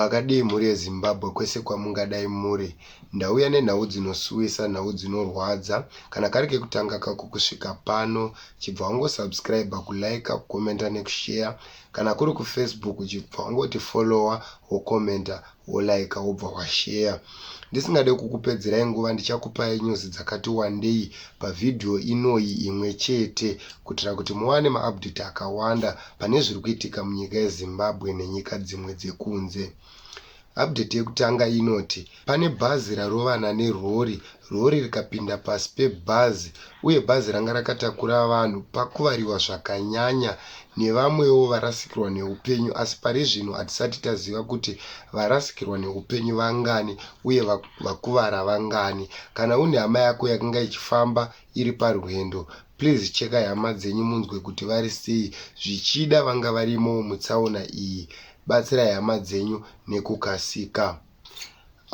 makadii mhuri yezimbabwe kwese kwamungadai muri ndauya nenhau dzinosuwisa nhau dzinorwadza kana kari kekutanga kako kusvika pano chibva wangosubscribe kulike kukomenta nekushare kana kuri kufacebook chibva wangoti follower wokomenta wolaika wobva washeya. Ndisingade kukupedzerai nguva ndichakupai news dzakati wandei pavhidhiyo inoyi imwe chete kuitira kuti muwane maupdate akawanda pane zviri kuitika munyika yeZimbabwe nenyika dzimwe dzekunze. Update yekutanga inoti pane bhazi rarovana nerori Rori rikapinda pasi pebhazi uye bhazi ranga rakatakura vanhu pakuvariwa zvakanyanya nevamwewo varasikirwa neupenyu asi pari zvino hatisati taziva kuti varasikirwa neupenyu vangani uye vakuvara vangani. Kana une hama yako yakanga ichifamba iri parwendo, please chekai hama dzenyu munzwe kuti vari sei zvichida vanga varimo mutsaona iyi. Batsirai hama dzenyu nekukasika.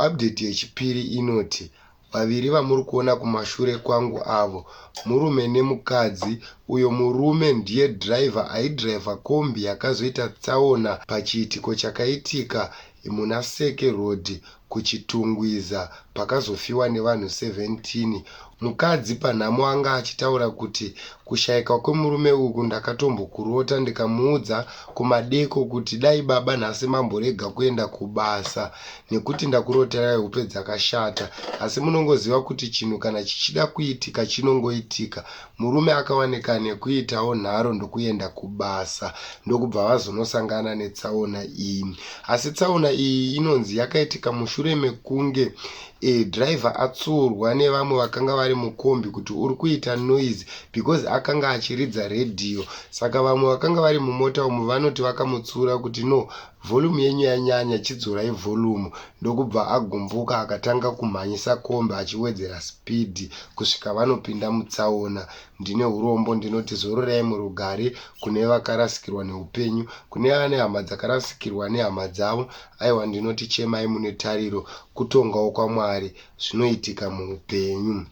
Update yechipiri inoti vaviri vamuri kuona kumashure kwangu avo murume nemukadzi uyo murume ndiye driver aidriver kombi yakazoita tsaona pachiitiko chakaitika muna Seke Road kuChitungwiza pakazofiwa nevanhu 17 Mukadzi panhamo anga achitaura kuti kushaika kwemurume uku ndakatombokurota ndikamuudza kumadeko kuti dai baba nhasi mamborega kuenda kubasa nekuti ndakuroterai hope dzakashata asi munongoziva kuti chinhu kana chichida kuitika chinongoitika murume akawanika nekuitawo nharo ndokuenda kubasa ndokubva vazonosangana netsaona iyi asi tsaona iyi inonzi yakaitika mushure mekunge E, driver atsuurwa nevamwe vakanga vari mukombi kuti uri kuita noise because akanga achiridza radio saka vamwe vakanga vari mumota umu vanoti vakamutsiura kuti no volume yenyu yanyanya chidzorai volume ndokubva agumbuka akatanga kumhanyisa kombi achiwedzera speed kusvika vanopinda mutsaona ndine urombo ndinoti zororai murugare kune vakarasikirwa neupenyu kune vane hama dzakarasikirwa nehama dzavo Aiwa ndinoti chemai mune tariro kutongawo kwaMwari zvinoitika muupenyu.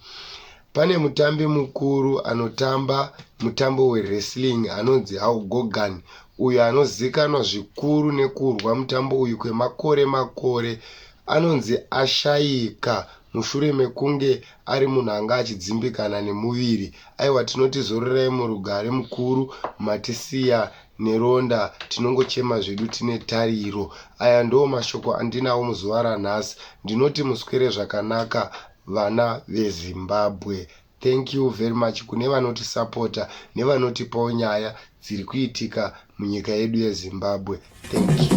Pane mutambi mukuru anotamba mutambo wewrestling anonzi Hulk Hogan uyo anozikanwa zvikuru nekurwa mutambo uyu kwemakore makore anonzi ashaika mushure mekunge ari munhu anga achidzimbikana nemuviri. Aiwa tinoti zororai murugare mukuru matisiya neronda tinongochema zvedu tine tariro aya ndoo mashoko andinawo muzuva ranhasi ndinoti muswere zvakanaka vana vezimbabwe thank you very much kune vanotisapota nevanotipawo nyaya dziri kuitika munyika yedu yezimbabwe thank you